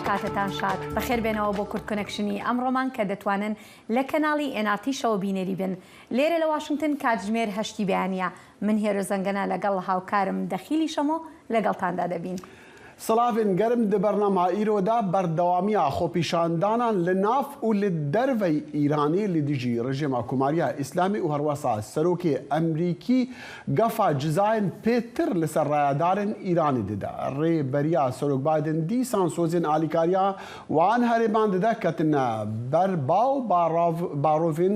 کاتتان شاد بەخێر بێنەوە بۆ کورد کنەکشنی ئەم ڕۆمان کە دەتوانن لە کەناڵی ئێناتیشەوە بینەری بن لێرە لە واشنگتن کاتژمێر هەشتی بەیانە من هێرۆ زەنگەنە لەگەڵ هاوکارم دەخیلی شەمۆ لەگەڵتاندا دەبین. سڵاڤێن گەرم دە بەرنامە ئیرۆ دا بەردەوامیە خۆپیشاندانان لە ناف و لە دەرڤەی ئیرانی لە دژی رژێمە کۆماریە ئیسلامی و هەروەسا سەرۆکێ ئەمریکی گەفا جزاێن پێ تر لە سەر رایەدارێن ئیرانی ددە رێ بەریا سەرۆک بایدن دیسان سۆزێن ئالیکاریا وان هەرێمان ددە کەتنە بەر باو باڕاڤ باڕۆڤێن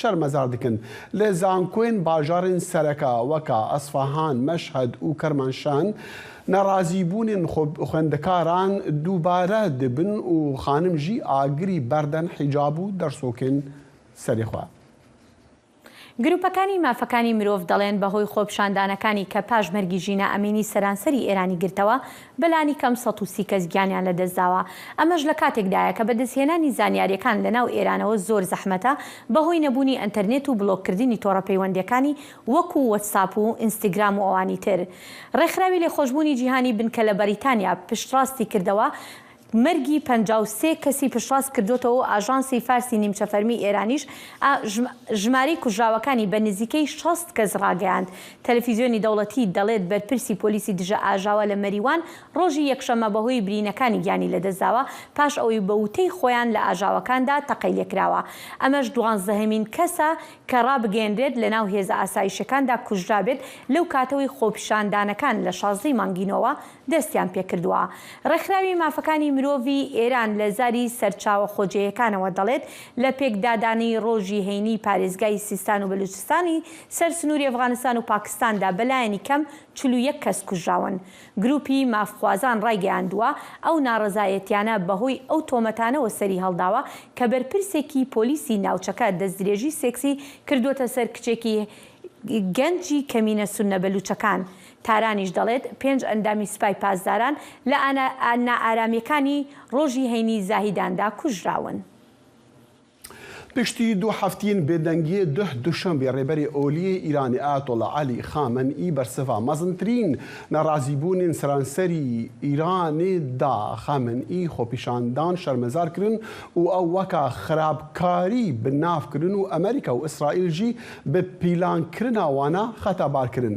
شەرمەزار دکن لە زانکۆێن باژارێن سەرەکا وەکا ئەسفەهان مەشهەد ئوو کەرمانشان نەڕازی بوونێن خۆ خوێندەکاران دووبارە دبن ئوو خانم ژی ئاگری بەردەن حیجاب و دەرسۆکێن سەرێ خوا. گروپەکانی مافەکانی مرۆڤ دەڵێن بەهۆی خۆپیشاندانەکانی کە پاش مەرگی ژینا ئەمینی سەرانسەری ئێرانی گرتەوە، بەلانیکەم سەد و سی کەس گیانیان لەدەستداوە، ئەمەش لەکاتێکدایە کە بەدەستهێنانی زانیارییەکان لەناو ئێرانەوە زۆر زەحمەتە بەهۆی نەبوونی ئەنتەرنێت و بلۆککردنی تۆڕە پەیوەندییەکانی وەکو وەتساپ و ئینستگرام و ئەوانی تر. ڕێکخراوی لێخۆشبوونی جیهانی بنکە لە بەریتانیا پشتڕاستی کردەوە مەرگی پەنجا و سێ کەسی پشتڕاست کردووەتەوە و ئاژانسی فارسی نیمچە فەرمیی ئێرانیش ئا ژمارەی کوژراوەکانی بە نزیکەی شەست کەس ڕاگەیاند. تەلەفیزیۆنی دەوڵەتی دەڵێت بەرپرسی پۆلیسی دژەئاژاوە لە مەریوان ڕۆژی یەکشەممە بەهۆی برینەکانی گیانی لەدەستداوە پاش ئەوەی بە وتەی خۆیان لە ئاژاوەکاندا تەقەی لێکراوە. ئەمەش دوانزەهەمین کەسە کە ڕابگەیەنرێت لەناو هێزە ئاسایشییەکاندا کوژرابێت لەو کاتەوەی خۆپیشاندانەکان لە شازدەی مانگی نۆوە دەستیان پێکردووە. ڕێکخراوی مافەکانی مرۆڤی ئێران لە زاری سەرچاوە خۆجێیەکانەوە دەڵێت، لە پێکدادانی ڕۆژی هەینیی پارێزگای سیستان و بەلووچستانی سەر سنووری ئەفغانستان و پاکستاندا بە لایەنی کەم چل و یەک کەس کوژراون. گرووپی مافخوازان ڕایگەیاندووە، ئەو ناڕەزایەتییانە بەهۆی ئەو تۆمەتانەوە سەری هەڵداوە کە بەرپرسێکی پۆلیسی ناوچەکە دەستدرێژی سێکسی کردووەتە سەر کچێکی گەنجی کەمینە سوننە بەلووچەکان تارانیش دەڵێت، پێنج ئەندامی سپای پاسداران لە نائارامییەکانی ڕۆژی هەینی زاهیداندا کوژراون. پشتی دوو هەفتین بێدەنگیێ دهه دوشەمبێ رێبەرێ ئۆلیێ ئیرانێ ئایەتۆڵا عەلی خامەن ئی بەرسڤا مەزنترین نارازیبوونێن سەرانسەری ئیرانێ دا. خامەن ئی خۆپیشاندان شەرمەزار کرن و ئەو وەکا خرابکاری بناف کرن و ئەمەریکا و ئسرائیل ژی بە پیلانکرنا وانە خەتابار کرن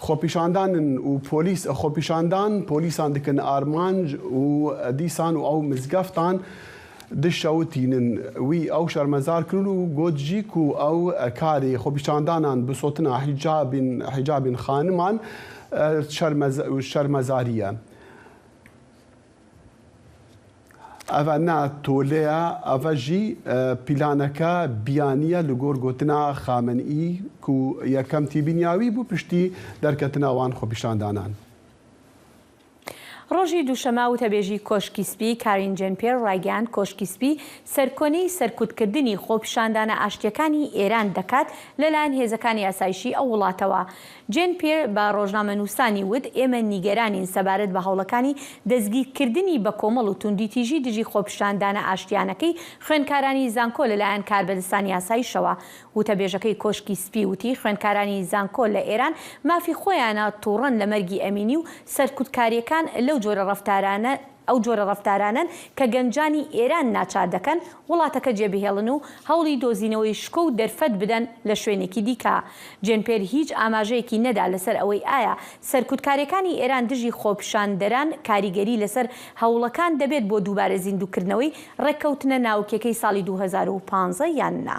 خۆپیشاندانن و پۆلیس خۆپیشاندان پۆلیسان دکن ئارمانج و دیسان و ئەو مزگەفتان دژ شەوتینن وی ئەو شەرمەزار کرن و گۆت ژی کو ئەو کارێ خۆپیشاندانان بسۆتنا حیجابین حیجابین خانمان شەرمەزاریە. ئەڤە نا تۆلەیە، ئەڤە ژی پیلانەکە بیانیە لە گۆر گۆتنا خامنئی ک یەکەم تیبینیاوی بو پشتی دەرکەتنا وان خوەپیشاندانان. ڕۆژی دووشەمە وتەبێژی کۆشکی سپی کارین جێن پیێر ڕایگەیاند کۆشکی سپی سەرکۆنەی سەرکوتکردنی خۆپیشاندانە ئاشتییەکانی ئێران دەکات لەلایەن هێزەکانی ئاسایشی ئەو وڵاتەوە جێن پیر بە ڕۆژنامەنووسانی وت ئێمە نیگەرانین سەبارەت بە هەوڵەکانی دەستگیرکردنی بەکۆمەڵ و توندوتیژی دژی خۆپیشاندانە ئاشتیانەکەی خوێندکارانی زانکۆ لەلایەن کاربەدەستانی ئاسایشەوە. وتەبێژەکەی کۆشکی سپی وتی خوێندکارانی زانکۆ لە ئێران مافی خۆیانە توڕەن لە مەرگی ئەمینی و سەرکوتکارییەکان لەو جۆرە ڕەفتارانە ئەو جۆرە ڕەفتارانەن کە گەنجانی ئێران ناچار دەکەن وڵاتەکە جێبهێڵن و هەوڵی دۆزینەوەی شکۆ و دەرفەت بدەن لە شوێنێکی دیکە. جێن پێر هیچ ئاماژەیەکی نەدا لەسەر ئەوەی ئایا سەرکوتکاریەکانی ئێران دژی خۆپیشاندەران کاریگەری لەسەر هەوڵەکان دەبێت بۆ دووبارە زیندووکردنەوەی ڕێککەوتنە ناوکیەکەی ساڵی دوو هەزار و پازدە یان نا.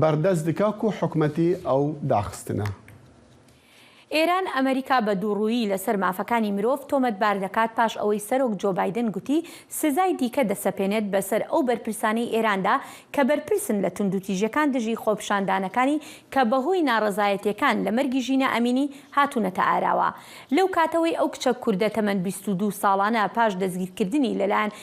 بەردەست دکا کو حکومەتی ئەو داخستنە. ئێران ئەمەریکا بە دووڕوویی لەسەر مافەکانی مرۆڤ تۆمەتبار دەکات پاش ئەوەی سەرۆک جۆ بایدن گوتی سزای دیکە دەسەپێنێت بەسەر ئەو بەرپرسانەی ئێراندا کە بەرپرسن لە توندوتیژیەکان دژی خۆپیشاندانەکانی کە بەهۆی ناڕەزایەتیەکان لە مەرگی ژینا ئەمینی هاتوونەتە ئاراوە لەو کاتەوەی ئەو کچە کوردە تەمەن بیست و دوو ساڵانە پاش دەستگیرکردنی لەلایەن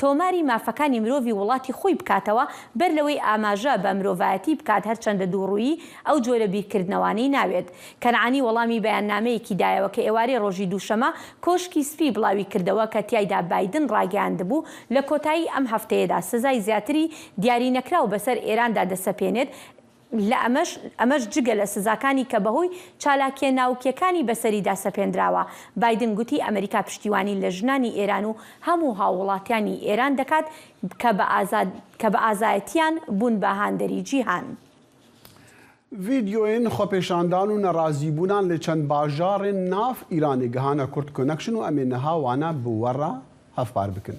تۆماری مافەکانی مرۆڤی وڵاتی خۆی بکاتەوە بەر لەوەی ئاماژە بە مرۆڤایەتی بکات هەرچەندە دووڕوویی ئەو جۆرە بیرکردنەوانەی ناوێت. کەنعانی وەڵامی بەیاننامەیەکی دایەوە کە ئێوارەی ڕۆژی دووشەمە کۆشکی سپی بڵاوی کردەوە کە تیایدا بایدن ڕاگەیاندبوو لە کۆتایی ئەم هەفتەیەدا سزای زیاتری دیارینەکراو بەسەر ئێراندا دەسەپێنێت لە ئەمەش ئەمەش جگە لە سزاکانی کە بەهۆی چالاکیە ناوکیەکانی بەسەریدا سەپێندراوە، بایدن گوتی ئەمەریکا پشتیوانی لە ژنانی ئێران و هەموو هاووڵاتیانی ئێران دەکات کە بە ئازاد کە بە ئازایەتیان بوون بە هاندەری جیهان. ڤیدیۆین خۆپێشاندان و نەڕازیبوونان لە چەند باژاڕێن ناڤ ئیرانێ گهانە کورد کۆنەکشن و ئەمێ نەها وانە بوەڕە هەڤپار بکن.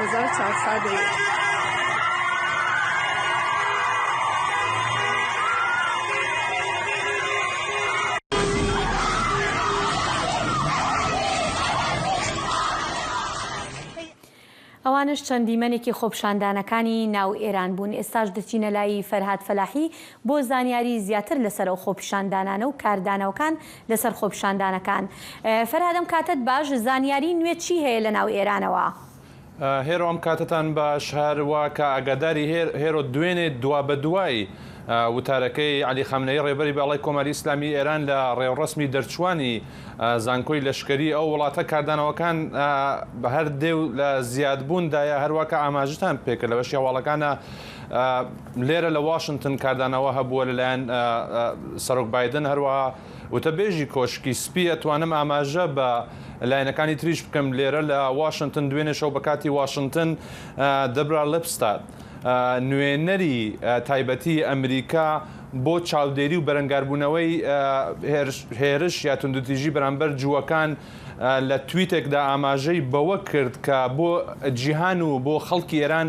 هەزار چوار سەد و ئەوانەش چەند دیمەنێکی خۆپیشاندانەکانی ناو ئێران بوون ئێستاش دەچینە لای فەرهاد فەلاحی بۆ زانیاری زیاتر لەسەر ئەو خۆپیشاندانانە و کاردانەوەکان لەسەر خۆپیشاندانەکان فەرهاد ئەم کاتەت باش زانیاری نوێ چی هەیە لە ناو ئێرانەوە؟ هێرۆ ئەم کاتەتان باش هەر وا کە ئاگاداری هێرۆ دوێنێ دوا بە دوای وتارەکەی عەلی خامنەیی ڕێبەری باڵای کۆماری ئیسلامی ئێران لە ڕێوڕەسمی دەرچووانی زانکۆی لەشکەری ئەو وڵاتە کاردانەوەکان بە هەر دێ و لە زیاد بوون دایە هەر وا کە ئاماژەتان پێکرد لە بەشی هەواڵەکانا لێرە لە واشنتن کاردانەوە هەبووە لەلایەن سەرۆک بادن هەروەها وتەبێژی کۆشکی سپی ئەتوانم ئاماژە بە لایەنەکانی تریش بکەم لێرە لە واشنتن دوێنێشەو بە کاتی واشنتن دەبرا لپستاد نوێنەری تایبەتی ئەمریکا بۆ چاودێری و بەرەنگاربوونەوەی هێرش یا توندوتیژی بەرامبەر جووەکان لە تویتێکدا ئاماژەی بەوە کرد کە بۆ جیهان و بۆ خەڵکی ئێران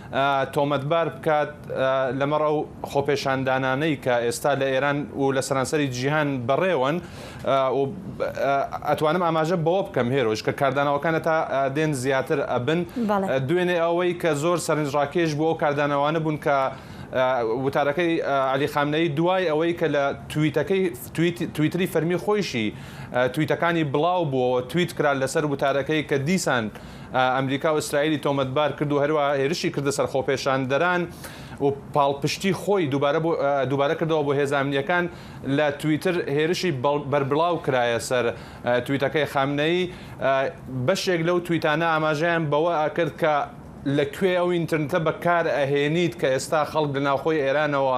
تۆمەتبار بکات، لەمەڕ ئەو خۆپێشاندانانەی کە ئێستا لە ئێران و لە سەرانسەری جیهان بەڕێوەن و ئەتوانم ئاماژە بەوە بکەم هێرۆژ کە کاردانەوەکان هەتا دێن زیاتر ئەبن دوێنێ ئەوەی کە زۆر سەرنجڕاکێش بۆ ئەو کاردانەوانە بوون کە وتارەکەی علی خامنەی دوای ئەوەی کە لە تویتەکەی تویتری فەرمی خۆیشی تویتەکانی بڵاو بووەوە تویت کرا لەسەر وتارەکەی کە دیسان ئەمریکا و ئیسرائیلی تۆمەتبار کرد و هەروەها هێرشی کردە سەر خۆپێشاندەران و پاڵپشتی خۆی دووبارە کردەوە بۆ هێزە ئەمنییەکان لە تویتر هێرشی بەربڵاو کرایە سەر تویتەکەی خامنەیی بەشێک لەو تویتانە ئاماژەیان بەوە کرد کە لە کوێ ئەو ئینترنتە بەکار ئەهێنیت کە ئێستا خەڵک لە ناوخۆی ئێرانەوە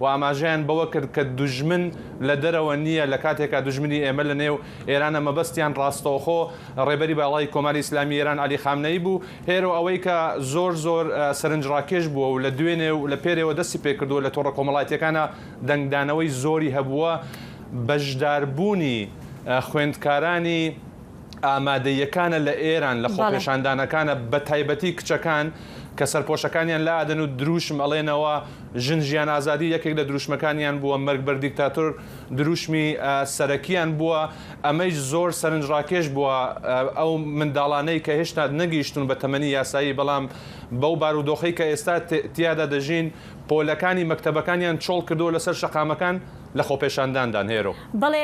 و ئاماژەیان بەوە کرد کە دوژمن لە دەرەوە نییە لە کاتێکا دوژمنی ئێمە لە نێو ئێرانە مەبەستیان ڕاستەوخۆ ڕێبەری باڵای کۆماری ئیسلامیی ئێران عەلی خامنەیی بوو هێرۆ ئەوەی کە زۆر زۆر سەرنجڕاکێش بووە و لە دوێنێ و لە پێرێوە دەستی پێ کردووە لە تۆڕە کۆمەڵایەتییەکانا دەنگدانەوەی زۆری هەبووە بەشداربوونی خوێندکارانی ئامادەییەکانە لە ئێران، لە خۆپێشاندانەکانە، بە تایبەتی کچەکان کە سەرپۆشەکانیان لادەن و درووشم ئەڵێنەوە، ژن ژیان ئازادی یەکێک لە درووشمەکانیان بووە، مەرگ بەر دیکتاتۆر درووشمی سەرەکییان بووە، ئەمەیش زۆر سەرنجڕاکێش بووە، ئەو منداڵانەی کە هێشتا نەگەیشتوون بە تەمەنی یاسایی بەڵام بەو بارودۆخەی کە ئێستا تیادا دەژین پۆلەکانی مەکتەبەکانیان چۆڵ کردووە لەسەر شەقامەکان، لە خۆپێشانداندان هێرۆ. بەڵێ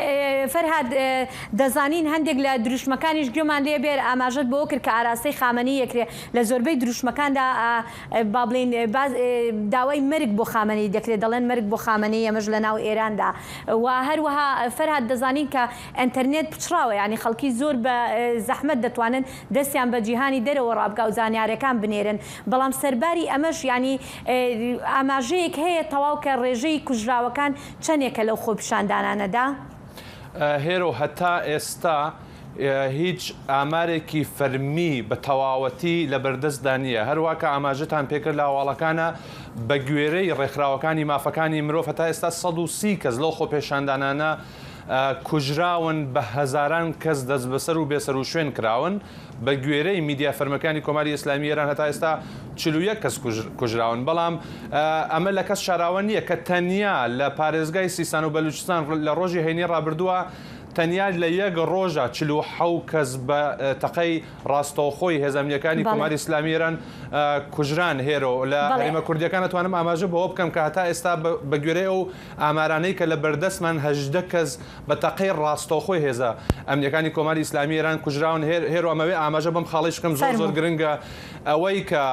فەرهاد، دەزانین هەندێک لە دروشمەکانیش گوێمان لێ بێ، ئاماژەت بەوە کرد کە ئاراستەی خامەنەی یەکرێ، لە زۆربەی دروشمەکاندا با بڵێین داوای مەرگ بۆ خامەنەی دەکرێ، دەڵێن مەرگ بۆ خامەنەی ئەمەش لە ناو ئێراندا و هەروەها فەرهاد دەزانین کە ئەنتەرنێت پچڕاوە یانی خەڵکی زۆر بە زەحمەت دەتوانن دەستیان بە جیهانی دەرەوە ڕابکا و زانیارەکان بنێرن بەڵام سەرباری ئەمەش یانی ئاماژەیەک هەیە تەواو کە ڕێژەی کوژراوەکان چەنێکە لەو خۆپیشاندانانەدا؟ هێرۆ، هەتا ئێستا هیچ ئامارێکی فەرمی بە تەواوەتی لەبەردەستدا نییە، هەروا کە ئاماژەتان پێکرد لە هەواڵەکانا بەگوێرەی ڕێکخراوەکانی مافەکانی مرۆڤ هەتا ئێستا سەد و سی کەس لەو خۆپێشاندانانە کوژراون، بە هەزاران کەس دەستبەسەر و بێسەروشوێن کراون، بە گوێرەی میدیا فەرمیەکانی کۆماری ئیسلامی ئێران هەتا ئێستا چل و یەک کەس کوژراون، بەڵام ئەمە لە کەس شاراوە نییە کە تەنیا لە پارێزگای سیستان و بەلووچستان لە ڕۆژی هەینی ڕابردووە تەنیا لە یەک ڕۆژا چل و حەو کەس بە تەقەی ڕاستەوخۆی هێزە ئەمنییەکانی کۆماری ئیسلامی ئێران کوژران هێرۆ لە هەرێمە کوردییەکان ئەتوانم ئاماژە بەوە بکەم کە هەتا ئێستا بە گوێرەی ئەو ئامارانەی کە لە بەردەستمان هەژدە کەس بە تەقەی ڕاستەوخۆی هێزە ئەمنیەکانی کۆماری ئیسلامی ئێران کوژراون هێر هێرۆ ئەمەوێ ئاماژە بەم خاڵەیش بکەم زۆر زۆر فەرموو. گرنگە ئەوەی کە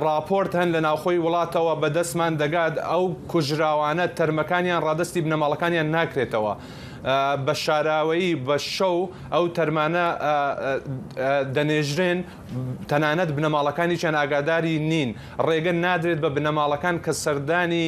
ڕاپۆرت هەن لە ناوخۆی وڵاتەوە بە دەستمان دەگات ئەو کوژراوانە تەرمەکانیان ڕادەستی بنەماڵەکانیان ناکرێتەوە بە شاراوەیی بە شەو ئەو تەرمانە دەنێژرێن تەنانەت بنەماڵەکانیشیان ئاگاداری نین ڕێگە نادرێت بە بنەماڵەکان کە سەردانی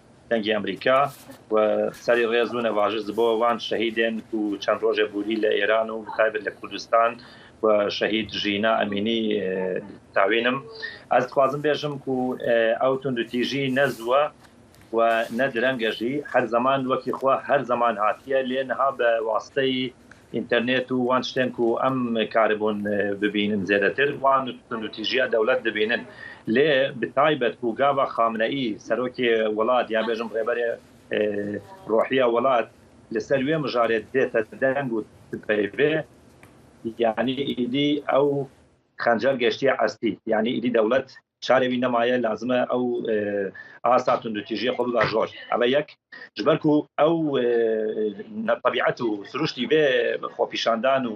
دەنگی ئەمریکا و سەری ڕێز و نەڤاژست بۆ وان شەهیدێن کو چەند ڕۆژێ بووری لە ئێران و بەتایبەت لە کوردستان و شەهید ژینا ئەمینی تاوینم ئەز دخوازم بێژم کو ئەو توندوتیژی نە زووە و نە درەنگەژی هەر زەمان وەکی خوا هەر زەمان هاتیە لێ نها بە واستەی ئینتەرنێت و وان شتێن کو ئەم کاربوون ببینن زێدەتر وان تونوتیژیە دەولەت دبینن لێ بتایبەت کو گاڤا خامنەئی سەرۆکێ وڵات یا بێژم رێبەرێ رۆحیە وڵات لە سەر وێ مژارێ دێتە دەنگ و تبەێ یانی ئیدی ئەو خەنجەر گەشتیە عەستی یانی ئیدی دەولەت چارە وی نەمایە لازمە ئەو ئاسا توندوتیژیە خۆ ببا ژۆر ئەمە یەک ژبەرکو ئەو نەتەبیعەت و سروشتی بێ خۆپیشاندان و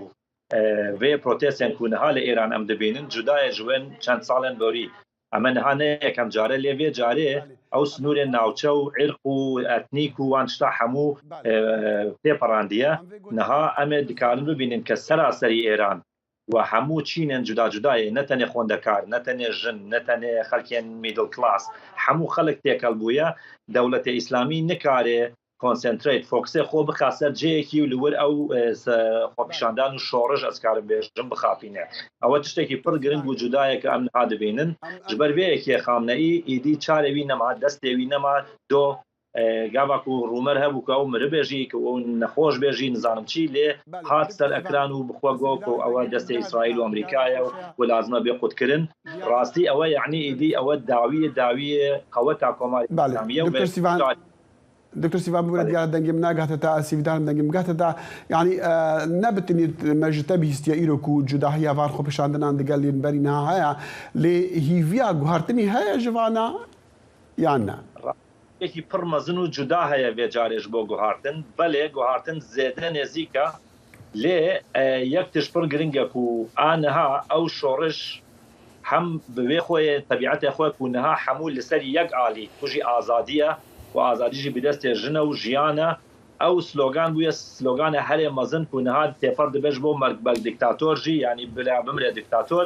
وێ پرۆتێسیان کوونەها لە ئێران ئەم دەبینن جودایە ژوێن چەند ساڵێن بۆری ئەمە نهانە یەکەم جارە لێوێ جارێ ئەو سنوورێ ناوچە و عێرق و ئەتنیک و وان شتا هەموو پێپەڕاندیە نەها ئەمێ دکارن ببینن کە سەراسەری ئێران و هەموو چینێن جودا جودایێ نە تەنێ خۆندەکار نە تەنێ ژن نە تەنێ خەلکێن میدل کلاس هەموو خەلک تێکەل بوویە دەولەتێ ئیسلامی نکارێ کۆنسێنترەیت فۆکسێ خۆ بخا سەر جێیەکی و لوور ئەو خۆپیشاندان و شۆرش ئەزکارم بێژم بخاپینێ ئەوە چشتێکی پڕ گرنگ و جودایە کە ئەم نها دبینن ژبەر ڤێیەکێ خامنەئی ئیدی چارێ وی نەما دەستێ وی نەما دۆ گاباک و رومەر هەبوو کە ئەو مرە بێژی کە ئەو نەخۆش بێژی نزانم چی لێ هات سەر ئەکران و بخوا گۆ کە ئەوە دەستێ ئیسرائیل و ئەمریکایە و و لازمە بێ قوت کرن راستی ئەوە یەعنی ئیدی ئەوە داویە داویێ قەوە تا کۆماری ئیسلامیە و بێ دکتۆر سیڤان ببرە دیارە دەنگم ناگاتە تا ئاسیبدان دەنگم بگاتە تا یعنی نەبتنیت مەژتە بیستە ئیرۆک و جوداهی یاڤان خۆپیشاندنان دگەل لێن بەرینا هەیە لێ هیڤیا گوهارتنی هەیە ژڤانە یان نا یەکی پڕ مەزن و جودا هەیە ڤێ جارێش بۆ گوهارتن بەلێ گوهارتن زێدە نێزیکە لێ یەک تش پڕ گرنگە کو ئا نها ئەو شۆڕش هەم بوێ خۆێ تەبیعەتێ خۆێ کو نها حەموو لسەری یەک ئالی توژی ئازادیە و ئازادیژی بدەستێ ژنە و ژیانە ئەو سلۆگان بوێ سلۆگانێ هەرێ مەزن کو نها تێپەڕ دبێژ بۆ مەرگ بەل دکتاتۆر ژی یانی بلا بمرێ دکتاتۆر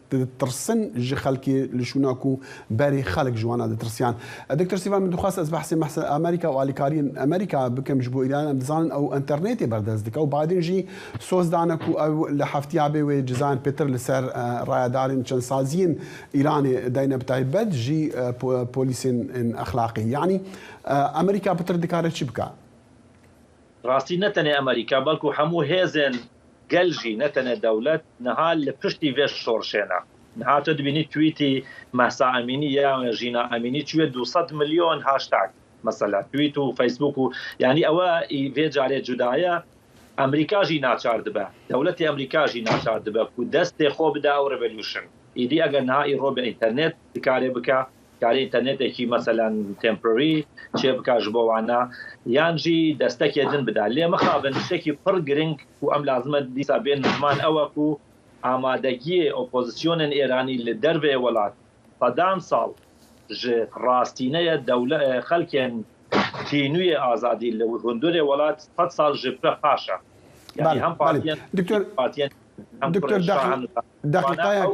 دترسن ژ خەلکی لشووناک و بەری خەلک ژوانا دترسیان دکتۆر سیڤان من دخواست ئەز بەحسی مەحس ئەمەریکا و ئالیکاریی ئەمەریکا بکەم ژبۆ ئیران ئەم دزانن ئەو ئەنتەرنێتێ بەردەس دکا و بایدن ژی سۆز دانە کو ئەو لە هەفتیا بێ وێ جزان پێتر لسەر رایەدارین چەنسازیین ئیرانێ داینە بتایبەت ژی پۆلیسین ئەخلاقی یەعنی ئەمەریکا پتر دکارێ چی بکا؟ راستی نەتەنێ ئەمەریکا بەلکو هەموو هێزێن گەل ژی نەتەنێ دەولەت نها لە پشتی ڤێ شۆرشێنە نها تۆ دبینی تویتی مەهسا ئەمینی یا ژینا ئەمینی چویە دوو سەد ملیۆن هاشتاگ مەسەلا تویت و فەیسبوک و یانی ئەوە ئی ڤێ جارێ جودایە ئەمریکا ژی ناچار دبە دەولەتێ ئەمریکا ژی ناچار دبە کو دەستێ خۆ بدە ئەو رێڤەلیوشن ئیدی ئەگەر نها ئی رۆ بە ئینتەرنێت دکارێ بکا کاری ئینتەرنێتێکی مەسەلەن تێمپرەری چێ بکا ژ بۆ وانە یان ژی دەستەکێ دن بدا لێ مەخابن شتێکی پڕ گرنگ و ئەم لازمە دیسا بێن زمان ئەوەک و ئامادەگیێ ئۆپۆزیسیۆنن ئێرانی لە دەرێ وەلات سەدان ساڵ ژ ڕاستینەیە دەولە خەلکێن تینویێ ئازادی لە هندورێ وەلات سەد ساڵ ژ پرە پاشە یعنی هەم پارتیەن دکتۆر پارتیەن دکتۆر دقیقایەک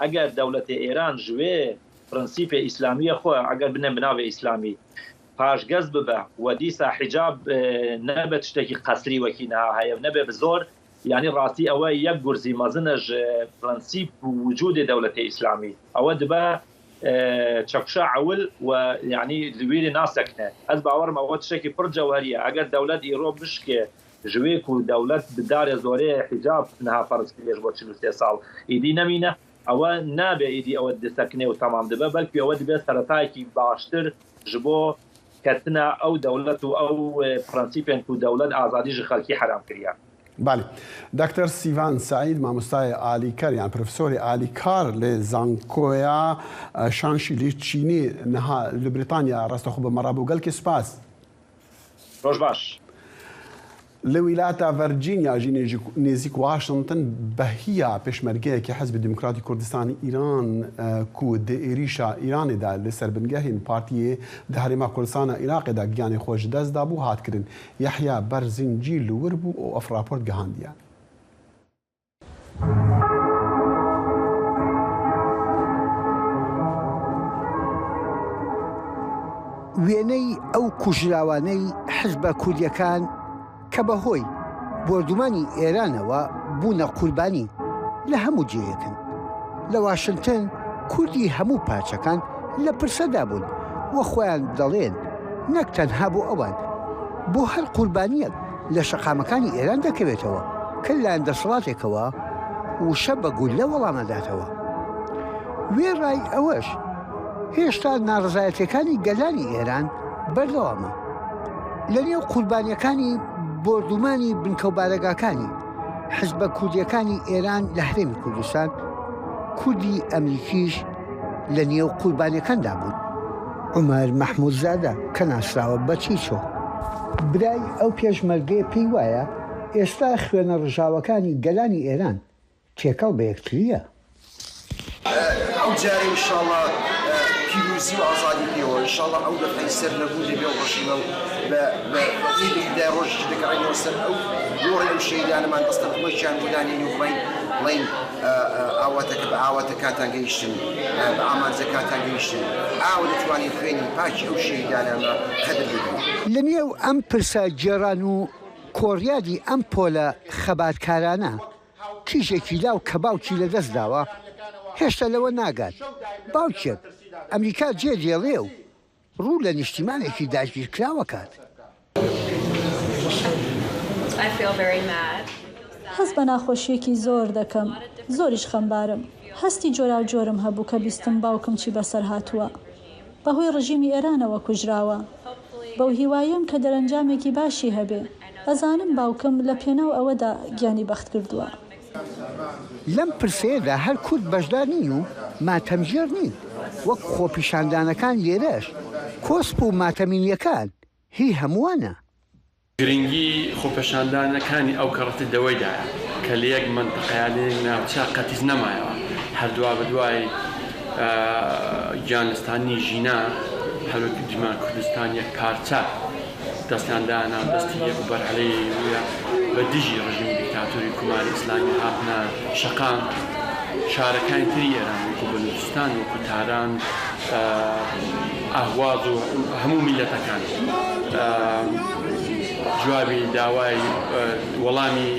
ئەگەر دەولەتێ ئێران ژوێ پرنسیپێ ئیسلامیە خوە ئەگەر بنێ بناڤێ ئیسلامی پاشگەز ببە و دیسا حیجاب نەبێ تشتێکی قەسری وەکی نها هەیە و نەبێ بزۆر یانی راستی ئەوە یەک گورزی مەزنە ژ پرنسیپ وجودێ دەولەتێ ئیسلامی ئەوە دبە چەکوشا عەول و یانی لویرێ ناسەکنێ ئەز باوەڕمە ئەوە تشتێکی پڕ جەوهەریە ئەگەر دەولەت ئیڕۆ بشکێ ژویک و دەولەت دارێ زۆرێ حیجاب تنها فەرز کریەش بۆ چل و سێ ساڵ ئیدی نەمینە ئەوە نابێ ئیدی ئەوە دسەکنێ و تەمام دبێ بەلکی ئەوە دبێ سەرەتایەکی باشتر ژ بۆ کەتنە ئەو دەولەت و ئەو پرەنسیپێن کو دەولەت ئازادی ژ خەلکی حەرام کریا. بەلی. دکتر سیڤان سەعید مامۆستای ئالیکەر یان پرفسۆری ئالیکار لە زانکۆیا شانشی لی چینی نها لە بریتانیا ڕاستەخۆ بە مەڕابوو گەلکی سوپاس. ڕۆژ باش. لە ویلاتە ڤەرجینیا ی نێزیک واشنتن بە هییا پێشمەرگەیەکی حزبی دیموکراتی کوردستانی ئیران کو دە ئێریشا ئیرانێ دا لە سەر بنگەهێن پارتیێ دە هەرێما کوردستانا ئیراقێ دا گیانێ خوە ژ دەس دا بوو هات کرن یەحیا بەر زنجی لوور بوو ئۆ ئەف ڕاپۆرت گەهاندیە. وێنەی ئەو کوژراوانەی حزبە کوردیەکان کە بە هۆی بۆردومانی ئێرانەوە بوونە قوربانی لە هەموو جێیەکن لە واشنگتن کوردی هەموو پارچەکان لە پرسەدا بوون وە خۆیان دەڵێن نەک تەنها بۆ ئەوان بۆ هەر قوربانیەک لە شەقامەکانی ئێران دەکەوێتەوە کە لەلایەن دەسەڵاتێکەوە وشە بە گوللە وەڵام ئەداتەوە. وێڕای ئەوەش هێشتا ناڕزایەتیەکانی گەلانی ئێران بەردەوامە. لە نێو قوربانیەکانی بۆردومانی بنکەوبارەگاکانی حزبە کوردیەکانی ئێران لە هەرێمی کوردستان کوردی ئەمریکیش، لە نێو قوربانیەکاندا بوون عومەر مەحمود زادە کە ناسراوە بە چیچۆ. برای ئەو پێشمەرگەیە پێی وایە ئێستا خوێنە ڕژاوەکانی گەلانی ئێران تێکەڵ بە یەکترییە. ئەو جارە ئینشاڵا پیرۆزی و ئازادی پێوە ئینشاڵا ئەو دەقەی سەر نەبوون دەبێ ئەو ڕژیمە و بە بە ئیدی خودای ڕۆژیش دەگەڕێینەوە سەر ئەو گۆڕی ئەو شەهیدانەمان دەستەن خۆیشیان بۆ دانێین و بڵێین بڵێین ئاواتەکە بە ئاواتەکاتان گەیشتن، بە ئامانجەکاتان گەیشتن، ئاوا دەتوانین خوێنی پاکی ئەو شەهیدانانە قەدر بدەین. لە نێو ئەم پرسە گێڕان و کۆڕیادی ئەم پۆلە خەباتکارانە، کیژێکی لاو کە باوکی لە دەست داوە، هێشتا لەوە ناگات، باوکێک، ئەمریکا جێ دێڵێ و ڕوو لە نیشتیمانێکی داگیرکراو ئەکات. هەست بە ناخۆشییەکی زۆر دەکەم، زۆریش خەمبارم. هەستی جۆراوجۆرم هەبوو کە بیستم باوکم چی بەسەر هاتووە. بەهۆی ڕژیمی ئێرانەوە کوژراوە. بەو هیوایەم کە دەرەنجامێکی باشی هەبێ. ئەزانم باوکم لە پێناو ئەوەدا گیانی بەختکردووە. لەم پرسەیەدا هەر کورد بەشدار نین و ماتەمگێڕ نین، وەک خۆپیشاندانەکان لێرەش کۆسپ و ماتەمینیەکان هی هەمووانە. گرنگی خۆپێشاندانەکانی ئەو کەڕەتی لەوەیدایە کە لە یەک مەنتقە یان لە یەک ناوچە قەتیس نەمایەوە، هەر دوابەدوای گیانلەستاندنی ژینا، هەروەک دیمان کوردستان یەک پارچە، دەستیان دانا دەستی یەک و بەرهەلەیەیوویە بە دژی ڕژیمی دیکتاتۆری کۆماری ئیسلامی هاتنە شەقام شارەکانی تری ئێران وەکوو بەلووچستان وەکوو تاران ئەهواز و هەموو میللەتەکان جوابی داوای وەڵامی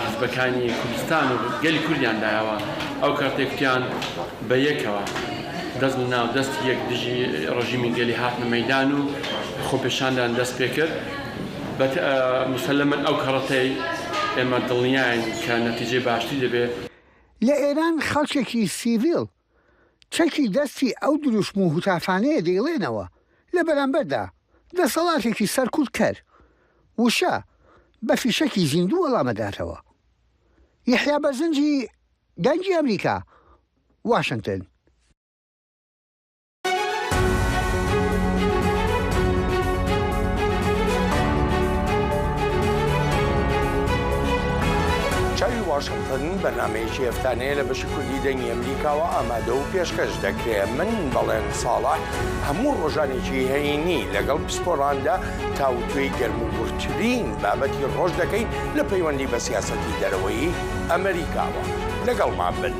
حزبەکانی کوردستان و گەلی کوردیان دایەوە ئەو کاتێکتیان بە یەکەوە. دەست لە ناو دەست یەک دژی ڕژیمی گەلی هاتنە مەیدان و خۆپێشاندان دەست پێ کرد. بە مسەلەمەن ئەو کەڕەتەی ئێمە دڵنیاین کە نەتیجەی باشتری دەبێ. لە ئێران خەڵکێکی سیڤیل چەکی دەستی ئەو دروشم و هوتافانەیە دەیڵێنەوە لە بەرامبەردا دەسەڵاتێکی سەرکوت کەر، وشە بە فیشەکی زیندوو وەڵامەداتەوە. یەحیا بەرزنجی دەنگی ئەمریکا واشنتن. چاوی واشنتن بەنامەیەکی هەفتانەیە لە بەشی کوردی دەنگی ئەمریکاوە ئامادە و پێشکەش دەکرێت من بەڵێن ساڵە هەموو ڕۆژانێکی هەینی لەگەڵ پسپۆراندا تاوتوێی گەرم و گورترین بابەتی ڕۆژ دەکەین لە پەیوەندی بە سیاسەتی دەرەوەی ئەمریکاوە لەگەڵمان بن.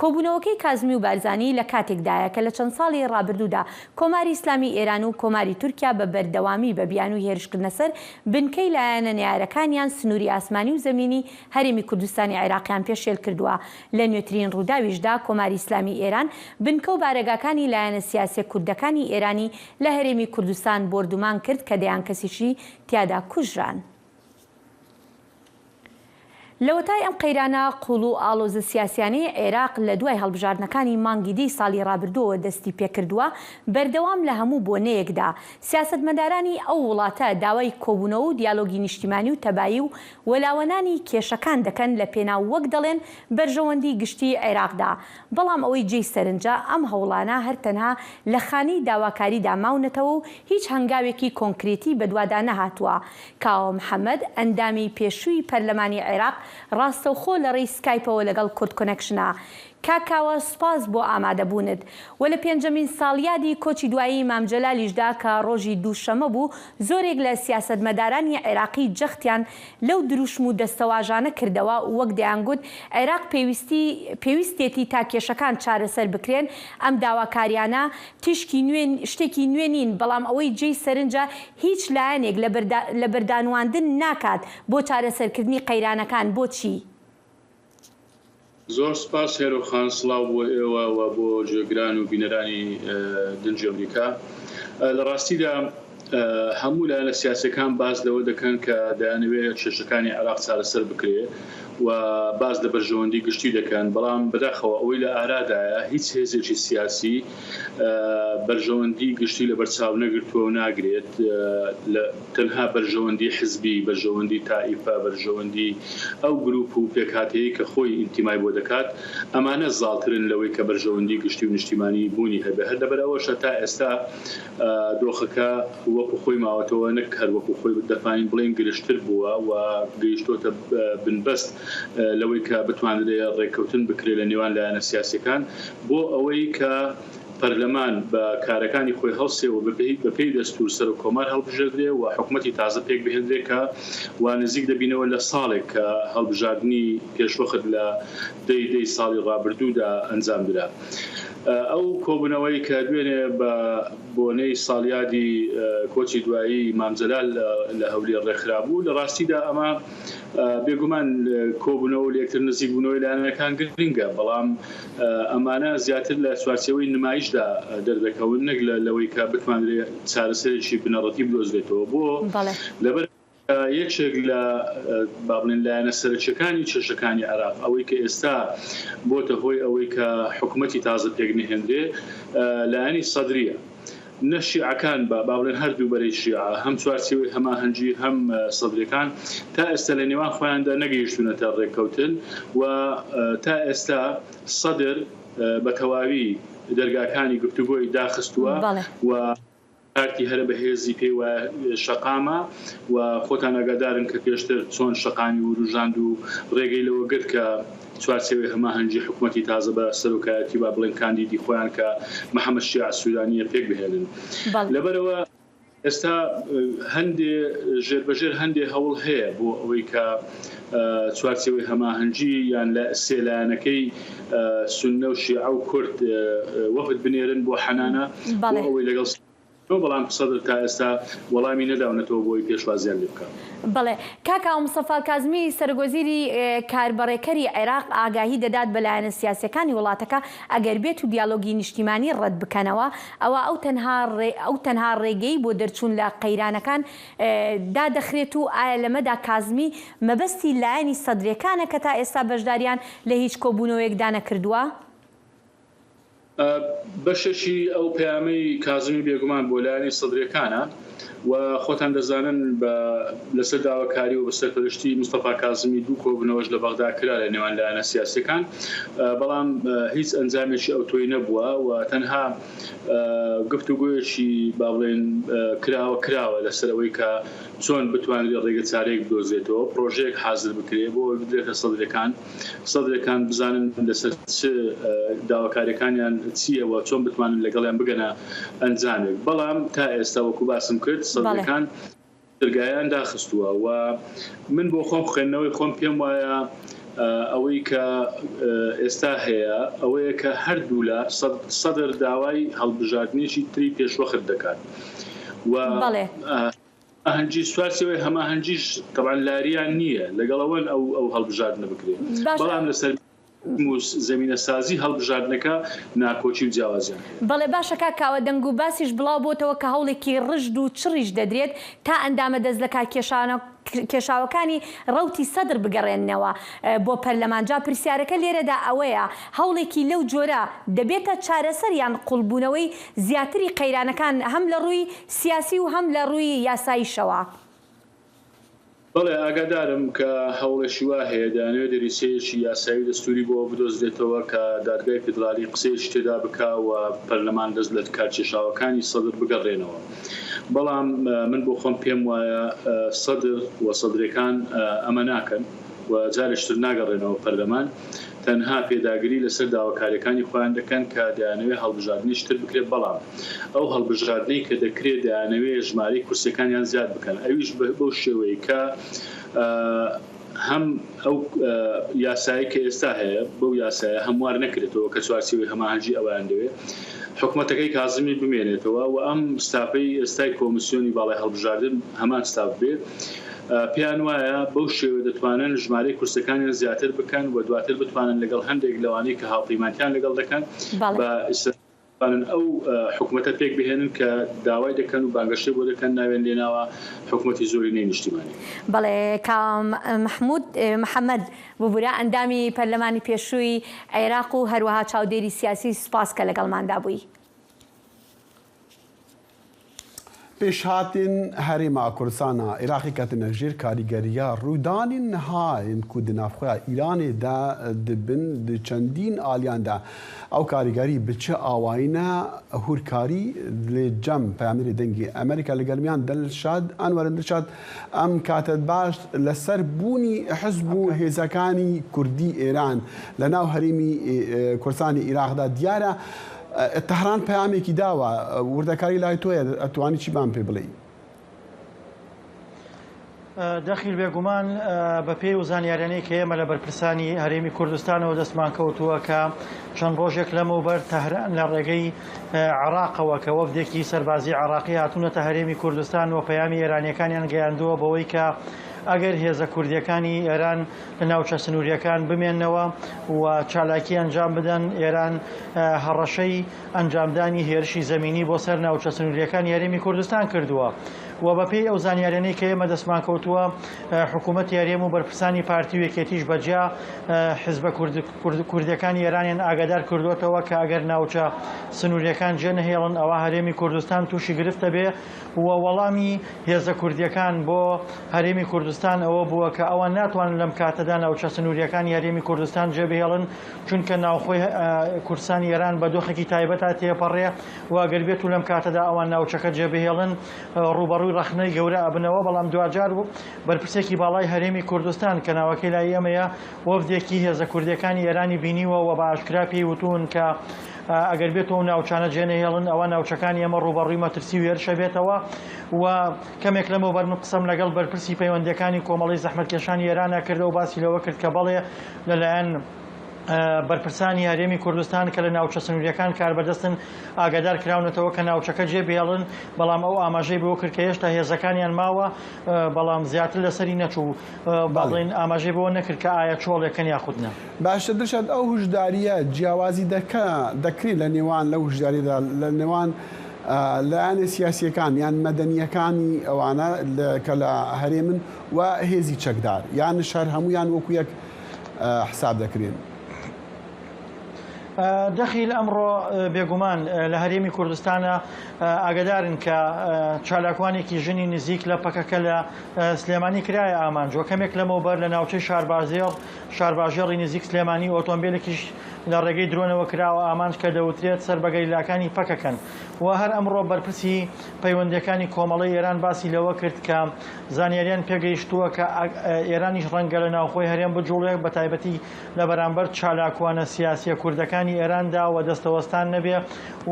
کۆبوونەوەکەی کازمی و بارزانی لە کاتێکدایە کە لە چەند ساڵی ڕابردوودا کۆماری ئیسلامی ئێران و کۆماری تورکیا بە بەردەوامی بە بیانووی هێرشکردنە سەر بنکەی لایەنە نەیارەکانیان سنووری ئاسمانی و زەمینی هەرێمی کوردستانی عێراقیان پێشێل کردووە لە نوێترین ڕووداویشدا کۆماری ئیسلامی ئێران بنکە و بارەگاکانی لایەنە سیاسیە کوردەکانی ئێرانی لە هەرێمی کوردستان بۆردومان کرد کە دەیان کەسیشی تیادا کوژران. لەوەتای ئەم قەیرانە قوڵ و ئاڵۆزە سیاسیانەی عێراق لەدوای هەڵبژاردنەکانی مانگی دی ساڵی ڕابردووەوە دەستی پێکردووە، بەردەوام لە هەموو بۆنەیەکدا سیاسەتمەدارانی ئەو وڵاتە داوای کۆبوونەوە و دیالۆگی نیشتیمانی و تەبایی و وەلاوەنانی کێشەکان دەکەن لەپێناو وەک دەڵێن بەرژەوەندی گشتی عێراقدا، بەڵام ئەوەی جێی سەرنجە ئەم هەوڵانە هەر تەنها لە خانەی داواکاریدا ماونەتەوە و هیچ هەنگاوێکی کۆنکرێتی بەدوادا نەهاتووە کاوە محەمەد، ئەندامی پێشووی پەرلەمانی عێراق ڕاستەوخۆ لە ڕێی سکایپەوە لەگەڵ کوردکۆنەکشن. کاک کاوە سوپاس بۆ ئامادەبوونت. وە لە پێنجەمین ساڵیادی کۆچی دوایی مام جەلالیشدا کە ڕۆژی دووشەمە بوو، زۆرێک لە سیاسەتمەدارانی عێراقی جەختیان لەو دروشم و دەستەواژانە کردەوە وەک دەیانگوت عێراق پێویستی پێویستێتی تا کێشەکان چارەسەر بکرێن، ئەم داواکاریانە تیشکی نوێ شتێکی نوێ نین بەڵام ئەوەی جێی سەرنجە هیچ لایەنێک لەبەردانواندن ناکات بۆ چارەسەرکردنی قەیرانەکان بۆچی؟ زۆر سوپاس هێرۆ خان، سڵاو بۆ ئێوە و بۆ گوێگران و بینەرانی دەنگی ئەمریکا. لە ڕاستیدا هەموو لایەنە سیاسییەکان باس لەوە دەکەن کە دەیانەوێت کێشەکانی عێراق چارەسەر بکرێت و باس لە بەرژەوەندی گشتی دەکەن، بەڵام بەداخەوە ئەوەی لە ئارادایە هیچ هێزێکی سیاسی، بەرژەوەندی گشتی لەبەرچاو نەگرتووە و ناگرێت، تەنها بەرژەوەندی حزبی، بەرژەوەندی تائیفە، بەرژەوەندی ئەو گروپ و پێکهاتەیەی کە خۆی ئینتیمای بۆ دەکات، ئەمانە زاڵترن لەوەی کە بەرژەوەندی گشتی و نیشتیمانی بوونی هەبێت، هەر لەبەرئەوەشە تا ئێستا دۆخەکە وەکو خۆی ماوەتەوە نەک هەر وەکو خۆی دەتوانین بڵێین گرژتر بووە و گەیشتۆتە بنبەست لەوەی کە بتوانرێت ڕێککەوتن بکرێت لەنێوان لایەنە سیاسیەکان. بۆ ئەوەی کە پەرلەمان بە کارەکانی خۆی هەڵسێ و بە پێی دەستوور سەرۆک کۆمار هەڵبژێردرێ و حکومەتی تازە پێک بهێندرێ کە وا نزیک دەبینەوە لە ساڵێک کە هەڵبژاردنی پێشوەخت لە دە ی دە ی ساڵی ڕابردوو دا ئەنجام درا ئەو کۆبوونەوەی کە دوێنێ بە بۆنەی ساڵیادی کۆچی دوایی مام جەلال لە هەولێر ڕێکخرا بوو لە ڕاستی دا ئەمە بێ گومان کۆبوونەوە و لە یەکتر نزیک بوونەوەی لایەنەکان گرنگە بەڵام ئەمانە زیاتر لە چوارچێوەی نمایشدا دەردەکەون نەک لەوەی کە بتوانرێت چارەسەرێکی بنەڕەتی بدۆزرێتەوە بۆ لەبەر یەکێک لە با بڵێن لایەنە سەرەکیەکانی کێشەکانی عێراق ئەوەی کە ئێستا بۆتە هۆی ئەوەی کە حکوومەتی تازە پێک نهێنرێ لایەنی سەدریە نە شیعەکان بە با بڵێن هەر دوو بەرەی شیعە هەم چوارچێوەی هەماهەنگی هەم سەدریەکان تا ئێستا لە نێوان خۆیاندا نەگەیشتوونەتە ڕێککەوتن و تا ئێستا سەدر بە تەواوی دەرگاکانی گفتوگۆی داخستووە و کارتی هەرە بەهێزی پێی وایە شەقامە و خۆتان ئاگادارن کە پێشتر چۆن شەقامی ورووژاند و ڕێگەی لەوە گرت کە چوارچێوەی هەماهەنگی حکومەتی تازە بە سەرۆکایەتی با بڵێین کاندیدی خۆیان کە محەمەد شیاع سوودانییە پێک بهێنن. لەبەرئەوە ئێستا هەندێ ژێربەژێر هەندێ هەوڵ هەیە بۆ ئەوەی کە چوارچێوەی هەماهەنگی یان لە سێ لایەنەکەی سوننە و شیعە و کورد وەفد بنێرن بۆ حەنانە بۆ ئەوەی لەگەڵ تۆ بەڵام قسەت تا ئێستا وەڵامی نەداونەتەوە بۆی پێشوازیان لێ بکە. بەڵێ کاک ئاو مستەفا کازمی سەرۆک وەزیری کاربەڕێکەری عێراق ئاگاهی دەدات بە لایەنە سیاسیەکانی وڵاتەکە ئەگەر بێتو دیالۆگی نیشتیمانی ڕەت بکەنەوە ئەوا ئەو تەنها ئەو تەنها ڕێگەی بۆ دەرچوون لە قەیرانەکان دادەخرێت و ئایا لەمەدا کازمی مەبەستی لایەنی سەدرەکانە کە تا ئێستا بەشداریان لە هیچ کۆبوونەوەیەکدا نەکردووە؟ بەشێکی ئەو پەیامەی کازمی بێگومان بۆ لایەنی سەدریەکانە و خۆتان دەزانن بە لەسەر داواکاری و بەسەرپەرشتی مستەفا کازمی دوو کۆبونەوەش لە بەغدا کرا لە نێوان لایەنە سیاسیەکان بەڵام هیچ ئەنجامێکی ئەوتۆی نەبووە و تەنها گفتوگۆیەکی با بڵێین کراوە کراوە لەسەر ئەوەی کە چۆن بتوانرێت ڕێگە چارەیەک بدۆزێتەوە پرۆژەیەک حازر بکرێت بۆ ئەوەی بدرێتە سەدرەکان. سەدرەکان بزانن لەسەر چ داواکاریەکانیان چیە و چۆن بتوانن لەگەڵیان بگەنە ئەنجامێک بەڵام تا ئێستا وەکو باسم کرد سەدرەکان درگایان داخستووە و من بۆ خۆم خوێندنەوەی خۆم پێم وایە ئەوەی کە ئێستا هەیە ئەوەیە کە هەردوولا سەدر داوای هەڵبژاردنێکی تری پێشوەخت دەکات و ئاهەنگی سوارچێوەی هەماهەنگیش تەبعەن لاریان نییە لەگەڵ ئەوەن ئەو ئەو هەڵبژاردنە بکرێ بەڵام لەسەر موس زەمینە سازی هەڵبژاردنەکە ناکۆکی و جیاوازیان هەیە. بەڵێ باشە کاک کاوە دەنگ و باسیش بڵاو بۆتەوە کە هەوڵێکی ڕژد و چڕیش دەدرێت تا ئەندامە دەست لە کار کێشانە کێشاوەکانی ڕەوتی سەدر بگەڕێننەوە بۆ پەرلەمان جا پرسیارەکە لێرەدا ئەوەیە هەوڵێکی لەو جۆرە دەبێتە چارەسەر یان قوڵبوونەوەی زیاتری قەیرانەکان هەم لە ڕووی سیاسی و هەم لە ڕووی یاساییشەوە. بەڵێ ئاگادارم کە هەوڵێکی وا هەیە، دەیانەوێت دەریچەیەکی یاسایی و دەستووری بۆ ئەوە بدۆزرێتەوە کە دادگای فیدرالی قسەیەکی تێدا بکا و پەرلەمان دەست لە کار کێشاوەکانی سەدر بگەڕێنەوە بەڵام من بۆ خۆم پێم وایە سەدر و سەدرەکان ئەمە ناکەن و جارێکی تر ناگەڕێنەوە پەرلەمان تەنها پێداگری لەسەر داواکاریەکانی خۆیان دەکەن کە دەیانەوێت هەڵبژاردنیش تر بکرێت بەڵام ئەو هەڵبژاردنەی کە دەکرێت دەیانەوێت ژمارەی کورسیەکانیان زیاد بکەن ئەویش بەو شێوەی کە هەم ئەو یاسایەی کە ئێستا هەیە بەو یاسایە هەموار نەکرێتەوە کە چوارچێوەی هەماهەنگی ئەوەیان دەوێت حکومەتەکەی کازمی بمێنێتەوە و ئەم ستافەی ئێستای کۆمسیۆنی باڵای هەڵبژاردن هەمان ستاف بێت پێیان وایە بەو شێوەیە دەتوانن ژمارەی کورسەکانیان زیاتر بکەن و دواتر بتوانن لەگەڵ هەندێک لەوانەی کە هاوپەیمانتیان لەگەڵ دەکەن بە ئیسرائیل بتوانن ئەو حکومەتە پێک بهێنن کە داوای دەکەن و بانگەشەی بۆ دەکەن ناویان لێ ناوە حکومەتی زۆرینەی نیشتیمانی. بەڵێ کاک مەحمود محەمەد ببورە ئەندامی پەرلەمانی پێشووی عێراق و هەروەها چاودێری سیاسی سوپاس کە لەگەڵماندا بووی. پیشهاتین هەریما کوردسانا ئیراقی کەتنە ژیر کاریگەریا روودانی نهاین کو د ناڤخویا ئیرانێ دا د بن د چەندین ئالیان دا ئەو کاریگەری ب چ ئاواینە هورکاری د جەم پەیامنێری دەنگی ئەمریکا لە گەرمیان دلشاد ئەنوەرن دلشاد ئەم کاتەد باش لە سەر بوونی حزب و هێزەکانی کوردی ئێران لە ناو هەریمی کوردسانی ئیراق دا دیارە تەهران پەیامێکی داوە. وردەکاری لای تۆیە ئەتوانی چی بان پێ بڵێی. دەخیل بێگومان بەپێی و زانیاریانەی کە ئێمە لە بەرپرسانی هەرێمی کوردستانەوە دەستمان کەوتووە کە چەند ڕۆژێک لەمەوبەر تەهران لە ڕێگەی عراقەوە کە وەفدێکی سەربازی عراقی هاتوونەتە هەرێمی کوردستان و پەیامی ئێرانیەکانیان گەیاندووە بەوەی کە ئەگەر هێزە کوردیەکانی ئێران لە ناوچە سنوورییەکان بمێننەوە و چالاکی ئەنجام بدەن، ئێران هەڕەشەی ئەنجامدانی هێرشی زەمینی بۆ سەر ناوچە سنوورییەکانی هەرێمی کوردستان کردووە و بەپێی ئەو زانیاریانەی کە ئێمە دەستمان کەوتووە حکوومەتی هەرێم و بەرپرسانی پارتی و یەکێتیش بە جیا حیزبە کوردییەکانی ئێرانیان ئاگادار کردووەتەوە کە ئەگەر ناوچە سنوورییەکان جێنەهێڵن ئەوا هەرێمی کوردستان تووشی گرفت دەبێ و وەڵامی هێزە کوردییەکان بۆ هەرێمی کوردستان ئەوە بووە کە ئەوان ناتوانن لەم کاتەدا ناوچە سنوورییەکانی هەرێمی کوردستان جێبهێڵن، چونکە ناوخۆی کوردستانی ئێران بە دۆخێکی تایبەتە تێپەڕێ و گەر بێتوو لەم کاتەدا ئەوان ناوچەکە جێبهێڵن ڕووبەڕووی ڕەخنەی گەورە ئەبنەوە، بەڵام دواجار بەرپرسێکی باڵای هەرێمی کوردستان کە ناوەکەی لای ئێمەیە وەفدێکی هێزە کوردییەکانی ئێرانی بینیوە و بە ئاشکرا پێی وتوون کە ئەگەر بێتو ئەو ناوچانە جێنەهێڵن ئەوا ناوچەکانی ئێمە ڕووبەڕووی مەترسی و هێرشە بێتەوە و کەمێک لەمەوبەر من قسەم لەگەڵ بەرپرسی پەیوەندییەکانی کۆمەڵەی زەحمەتکێشانی ئێرانە کردو باسی لەوە کرد کە بەڵێ لەلایەن بەرپرسانی هەرێمی کوردستان کە لە ناوچە سنوورییەکان کاربەدەستن ئاگادار کراونەتەوە کە ناوچەکە جێبهێڵن بەڵام ئەو ئاماژەی بەوە کرد کە هێشتا هێزەکانیان ماوە بەڵام زیاتر لەسەری نەچوو با بڵێین ئاماژەی بەوە نەکرد کە ئایا چۆڵێکن یاخود نا. باشتر دەشێت ئەو هوشدارییە جیاوازی دەکە دەکرێت لە نێوان لە هوشداریدا لە نێوان لایەنە سیاسیەکان یان مەدەنیەکانی ئەوانە کە لە هەرێمن و هێزی چەکدار یان شار هەمویان وەکو یەک حساب دەکرێن. دەخیل ئەمڕۆ بێگومان لە هەرێمی کوردستانە ئاگدارن کە چالاکوانێکی ژنی نزیک لە پەکەکە لە سلێمانی کرایە ئامانج و کەمێک لەمەوبەر لە ناوچەی شاربازێڕ شارباژێڕی نزیک سلێمانی ئۆتۆمبێلێکیش لە ڕێگەی درۆنەوە کراوە ئامانج کە دەوترێت سەر بە گەریلاکانی پەکەکەن و هەر ئەمڕۆ بەرپرسی پەیوەندییەکانی کۆمەڵەی ئێران باسی لەوە کرد کە زانیاریان پێگەیشتووە کە ئێرانیش ڕەنگە لە ناوخۆی هەرێم بجوڵێ بە تایبەتی لە بەرامبەر چالاکوانە سیاسییە کوردەکانی ئێراندا و دەستەوەستان نەبێ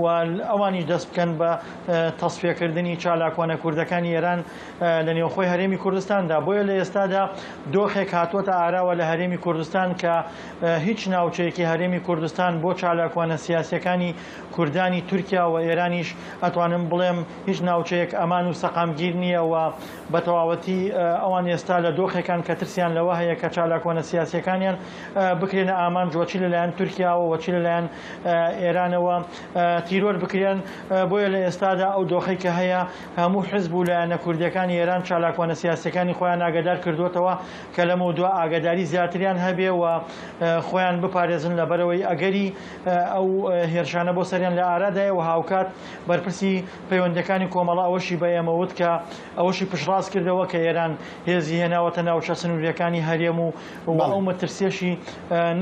و ئەوانیش دەست بکەن بە تەسفیەکردنی چالاکوانە کوردەکانی ئێران لە نێوخۆی هەرێمی کوردستاندا، بۆیە لە ئێستادا دۆخێک هاتووەتە ئاراوە لە هەرێمی کوردستان کە هیچ ناوچەیەکی هەرێمی کوردستان بۆ چالاکوانە سیاسییەکانی کوردانی تورکیا و ئێرانیش ئەتوانم بڵێم هیچ ناوچەیەک ئەمان و سەقامگیر نییە و بە تەواوەتی ئەوان ئێستا لە دۆخێکان کە ترسیان لەوە هەیە کە چالاکوانە سیاسییەکانیان بکرێنە ئامانج وە چی لەلایەن تورکیاوە وە چی لەلایەن ئێرانەوە تیرۆر بکرێن بۆیە لە ئێستادا ئەو دۆخەی کە هەیە هەموو حزب و لایەنە کوردییەکانی ئێران چالاکوانە سیاسییەکانی خۆیان ئاگادار کردووەتەوە کە لەمەودوا ئاگاداری زیاتریان هەبێ و خۆیان بپارێزن لەبەرئەوەی ئەگەری ئەو هێرشانە بۆ سەریان لە ئارادایە و هاوکات بەرپرسی پەیوەندییەکانی کۆمەڵە ئەوەشی بە ئێمە وت کە ئەوەشی پشتڕاست کردەوە کە ئێران هێزی هێناوەتە ناوچە سنوورییەکانی هەرێم و و ئەو مەترسییەشی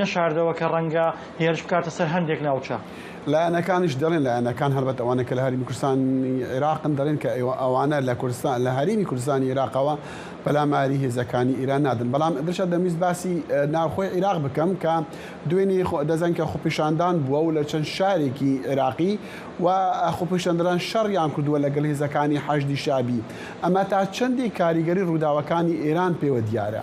نەشاردەوە کە ڕەنگە هێرش بکاتە سەر هەندێک ناوچە لایەنەکانیش دەڵێن، لایەنەکان هەڵبەت ئەوانەی کە لە هەرێمی کوردستانی عێراقن دەڵێن کە ئەوانە لە کوردستان لە هەرێمی کوردستانی عێراقەوە پەلاماری هێزەکانی ئێران نادەن. بەڵام دڵشاد دەمویست باسی ناوخۆی عێراق بکەم کە دوێنێ دەزانین کە خۆپیشاندان بووە و لە چەند شارێکی عێراقی و خۆپیشاندەران شەڕیان کردووە لەگەڵ هێزەکانی حەشدی شەعبی. ئەمە تا چەندێک کاریگەری ڕووداوەکانی ئێران پێوە دیارە؟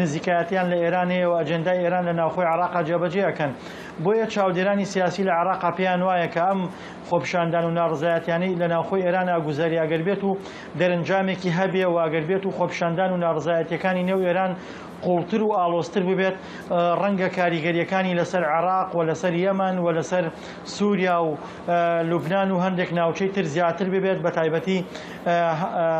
نزیکایەتیان لە ئێران هەیە و ئەجێندای ئێران لە ناوخۆی عێراقا جێبەجێ ئەکەن. بۆیە چاودێرانی سیاسی لە عێراقا پێیان وایە کە ئەم خۆپیشاندان و ناڕزایەتیانەی لە ناوخۆی ئێران ئاگوزاری ئەگەر بێت و دەرنجامێکی هەبێ و ئەگەر بێت و خۆپیشاندان و ناڕزایەتیەکانی نێو ئێران قوڵتر و ئاڵۆزتر ببێت ڕەنگە کاریگەریەکانی لەسەر عێراق و لەسەر یەمەن و لەسەر سوریا و لوبنان و هەندێک ناوچەی تر زیاتر ببێت، بەتایبەتی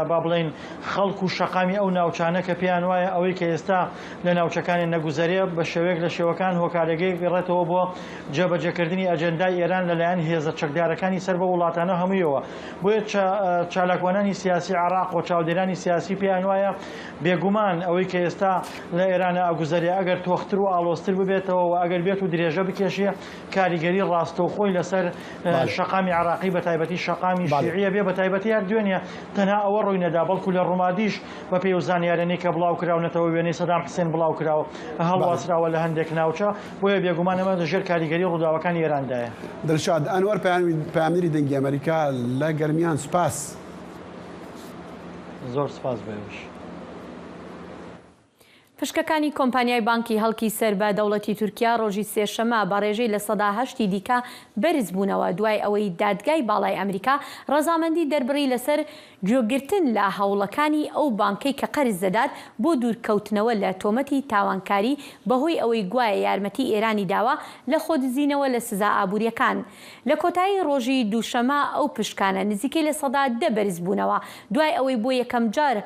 با بڵێین خەڵک و شەقامی ئەو ناوچانە کە پێیان وایە ئەوەی کە ئێستا لە ناوچەکانێ نەگوزەرێ بە شێوەیەک لە شێوەکان هۆکارەگەیەک بگەڕێتەوە بۆ جێبەجێکردنی ئەجێندای ئێران لە لایەن هێزە چەکدارەکانی سەر بەو وڵاتانە هەموویەوە. بۆیە چالاکوانانی سیاسی عێڕاق و چاودێرانی سیاسی پێیان وایە بێگومان ئەوەی کە ئێستا لە ئێرانە ئەگوزەرێ ئەگەر تۆختر و ئاڵۆزتر ببێتەوە و ئەگەر بێت و درێژە بکێشێ کاریگەری ڕاستەوخۆی لەسەر شەقامی عێراقی بەتایبەتی شەقامی شیعیە بێ بەتایبەتی هەر دوێنێ تەنها ئەوە ڕووی نەدا بەڵکو لە ڕومادیش بەپێی ئەو زانیارانەی کە بڵاو کراونەتەوە وێنەی سەدام حسێن بڵاو کراوە هەڵواسراوە لە هەندێک ناوچە بۆیە بێگومان ئەمە لە ژێر کاریگەری ڕووداوەکانی ئێراندایە. دلشاد ئەنوەر پەیامنێری دەنگی ئەمەریکا لە گەرمیان سوپاس. زۆر سوپاس بۆ ئێوەش. پشکەکانی کۆمپانیای بانکی هەڵکی سەر بە دەوڵەتی تورکیا ڕۆژی سێشەمە بە ڕێژەی لە سەدا هەشت ی دیکە بەرزبوونەوە دوای ئەوەی دادگای باڵای ئەمریکا ڕەزامەندی دەربڕی لەسەر گوێگرتن لە هەوڵەکانی ئەو بانکەی کە قەرز دەدات بۆ دوورکەوتنەوە لە تۆمەتی تاوانکاری بەهۆی ئەوەی گوایە یارمەتی ئێرانی داوە لە خۆدزینەوە لە سزا ئابووریەکان. لە کۆتایی ڕۆژی دووشەمە ئەو پشکانە نزیکەی لە سەدا دە بەرزبوونەوە دوای ئەوەی بۆ یەکەمجار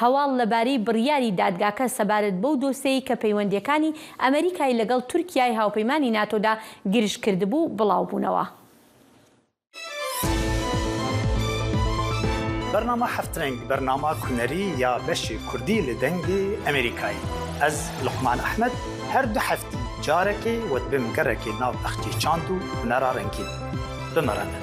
هەواڵ لەبارەی بڕیاری دادگاکە سەبارەت بەو دۆسێی کە پەیوەندییەکانی ئەمەریکای لەگەڵ تورکیای هاوپەیمانی ناتۆدا گرژ کردبوو، بڵاوبوونەوە. بەرنامە هەفت رەنگ بەرنامە کونەری یا بەشی کوردی لە دەنگی ئەمەریکای ئەز لوقمان ئەحمەد هەر دو هەفتی جارەکی وەت بم گەڕەکی ناو ئەختی چاند و هونەرا رەنگین بمەڕەنن.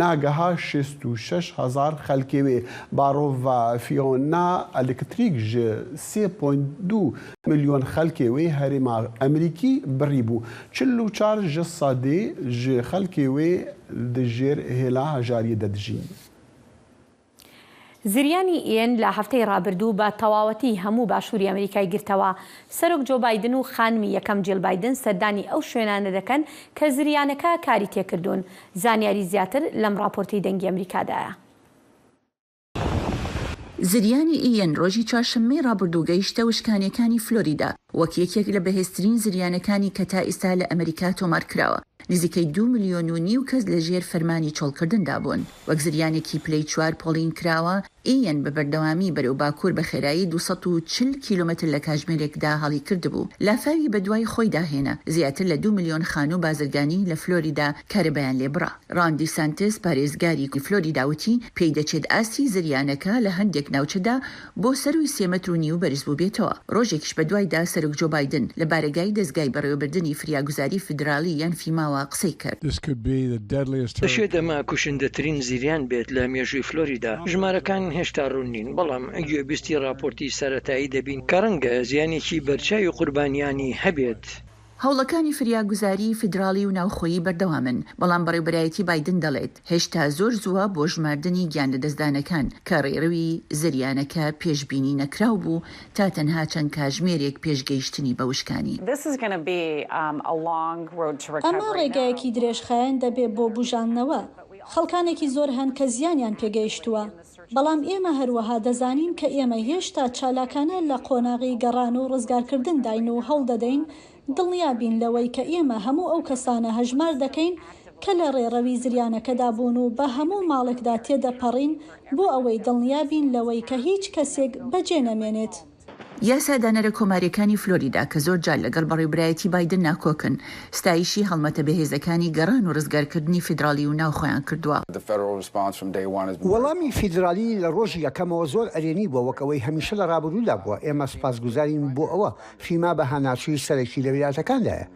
ناگەها شست و شەش هەزار خەلکێ وێ باڕۆڤا فیۆنا ئەلکتریک ژە سێ پۆینت دوو ملیۆن خەلکێ وێ هەرێما ئەمریکی بڕی بوو چل و چار ژە سەدێ ژە خەلکێ وێ دژێر هێلا هەژاریێ دە دژین. زریانی ئیەن لە هەفتەی ڕابردوو بە تەواوەتی هەموو باشووری ئەمریکای گرتەوە. سەرۆک جۆ بایدن و خانمی یەکەم جیڵ بایدن سەردانی ئەو شوێنانە دەکەن کە زریانەکە کاری تێکردوون. زانیاری زیاتر لەم ڕاپۆرتەی دەنگی ئەمریکادایە. زریانی ئیەن ڕۆژی چوارشەممەی ڕابردوو گەیشتە وشکانیەکانی فلۆریدا، وەک یەکێک لە بەهێزترین زریانەکانی کە تا ئیستا لە ئەمریکا تۆمارکراوە، نزیکەی دوو ملیۆن و نیو کەس لەژێر فەرمانی چۆڵکردندابوون. وەک زریانێکی پلەی چوار پۆڵین کراوە، ئییەن بە بەردەوامی بەرەو باکوور بە خێرایی دوو سەد و چل کیلۆمەتر لە کاژمێرێکدا هەڵی کردبوو، لافاوی بەدوای خۆیدا هێنا، زیاتر لە دوو ملیۆن خانوو و بازرگانی لە فلۆریدا کارەبایان لێ بڕا. ڕان دیسانتس، پارێزگاری فلۆریدا وتی، پێیدەچێت ئاستی زریانەکە لە هەندێک ناوچەدا بۆ سەرووی سێ مەتر و نیو بەرز بووبێتەوە. ڕۆژێکیش بەدوایدا سەرۆک جۆ بایدن لە بارەگای دەزگای بەڕێوەبردنی فریاگوزاری فیدرالی یان فیماوە قسەی کرد. دەشێت ئەمە کوشندەترین زریان بێت لە مێژووی فلۆریدا. ژمارەکان هێشتا ڕوون نین، بەڵام گوێبیستی ڕاپۆرتی سەرەتایی دەبین کە ڕەنگە زیانێکی بەرچاوی قوربانیانی هەبێت. هەوڵەکانی فریاگوزاریی فیدراڵی و ناوخۆیی بەردەوامن، بەڵام بەڕێوبەرایەتی بایدن دەڵێت، هێشتا زۆر زووە بۆ ژماردنی گیانلەدەستدانەکان، کە ڕێڕەوی زریانەکە پێشبینی نەکراو بوو تا تەنها چەند کاژمێرێک پێش گەیشتنی بە وشکانی. ئەمە ڕێگایەکی درێژخایەن دەبێت بۆ بووژاندنەوە. خەڵکانێکی زۆر هەن کە زیانیان پێگەیشتووە. بەڵام ئێمە هەروەها دەزانین کە ئێمە هێشتا چالاکانە لە قۆناغی گەڕان و ڕزگارکردنداین و هەوڵدەدەین دڵنیا بین لەوەی کە ئێمە هەموو ئەو کەسانە هەژمار دەکەین کە لە ڕێڕەوی زریانەکەدا بوون و بە هەموو ماڵێکدا تێدەپەڕین بۆ ئەوەی دڵنیا بین لەوەی کە هیچ کەسێک بەجێنەمێنێت. یاسادانەرە کۆمارییەکانی فلۆریدا کە زۆر جار لەگەڵ بەڕێوبرایەتی بایدن ناکۆکن، ستایشی هەڵمەتە بەهێزەکانی گەڕان و ڕزگارکردنی فیدراڵی و ناوخۆیان کردووە. وەڵامی فیدراڵی لە ڕۆژی یەکەمەوە زۆر ئەرێنی بووە، وەک ئەوەی هەمیشە لە ڕابردوودا بووە، ئێمە سوپاسگوزارین بۆ ئەوە، فیما بە هاناچووی سەرەکی لە ویلایەتەکاندایە،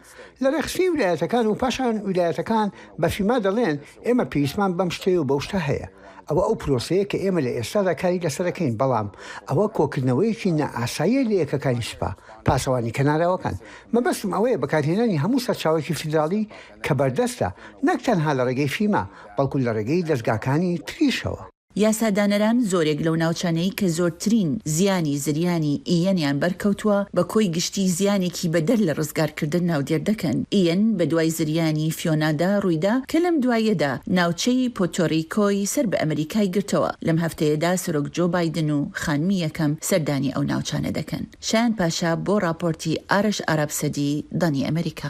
لە رێکخستنی ویلایەتەکان و پاشان ویلایەتەکان بە فیما دەڵێن ئێمە پێویستمان بەم شتەیە و بەو شتە هەیە، ئەوە ئەو پرۆسەیە کە ئێمە لە ئێستادا کاری لەسەرەکەین، بەڵام ئەوە کۆکردنەوەیەکی نائاساییە لە یەکەکانی سوپا پاسەوانی کەناراوەکان. مەبەستم ئەوەیە بەکارهێنانی هەموو سەرچاوەیەکی فیدراڵی کە بەردەستە، نەک تەنها لە رێگەی فیما، بەڵکو لە رێگەی دەزگاکانی تریشەوە. یاسادانەران زۆرێک لەو ناوچانەی کە زۆرترین زیانی زریانی ئیەنیان بەرکەوتووە بە کۆی گشتی زیانێکی بەدەر لە ڕزگارکردن ناودێر دەکەن. ئیەن بە دوای زریانی فیۆنادا ڕوویدا کە لەم دواییەدا ناوچەی پۆتۆریکۆی سەر بە ئەمریکای گرتەوە. لەم هەفتەیەدا سەرۆک جۆ بایدن و خانمی یەکەم سەردانی ئەو ناوچانە دەکەن. شایان پاشا بۆ ڕاپۆرتی ئارش ئارابسەدی، دانی ئەمریکا.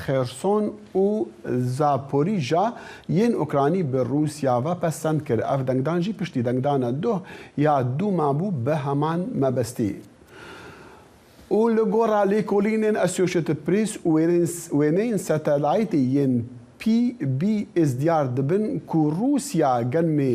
خێرسۆن و زاپۆریژا یین ئۆکرانی بە رووسیا ڤە پەسەند کرد، ئەڤ دەنگدان ژی پشتی دەنگدانە دۆه یا دووما بۊ بە هەمان مەبەستی. و لە گۆڕا لێکۆلینێن ئەسیۆشێتد پریس و وێنەین سەتەلایتی یین پی بی ئس دیار دبن کوو رووسیا گەنمێ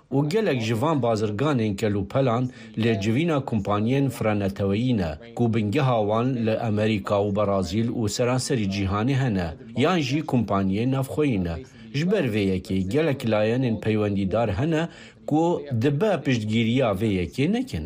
و گەلەک ژ ڤان بازرگانێن کەل و پەلان لە جڤینا کومپانیەێن فرە نەتەوەیی نە کو بنگەها وان لە ئەمریکا و بەڕازیل و سەرانسەری جیهانێ هەنە یان ژی کومپانیەێ ناڤخۆیی نە. ژ بەر ڤێ یەکێ گەلەک لایەنێن پەیوەندیدار هەنە کو دبە پشتگیریا ڤێ یەکێ نەکن.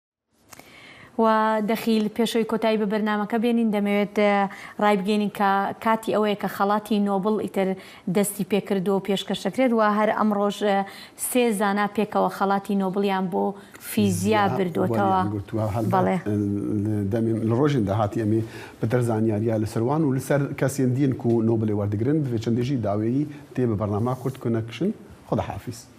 و دەخیل، پێشەوەی کۆتایی بە بەرنامەکە بێنین دەمەوێت ڕایبگەینین کە کاتی ئەوەیە کە خەڵاتی نۆبڵ ئیتر دەستی پێکردووە و پێشکەش دەکرێت و هەر ئەمڕۆش سێ زانا پێکەوە خەڵاتی نۆبڵیان بۆ فیزیا بردووەتەوە. بەڵێ. دەمێن لە ڕۆژێن داهاتی ئەمێ پتر زانیاریا لەسەر وان و لەسەر کەسێن دین کو نۆبڵێ وەردگرن بڤێ چەندێژی داوێی تێ بە بەرناما کورت کونەکشن خوداحافیز.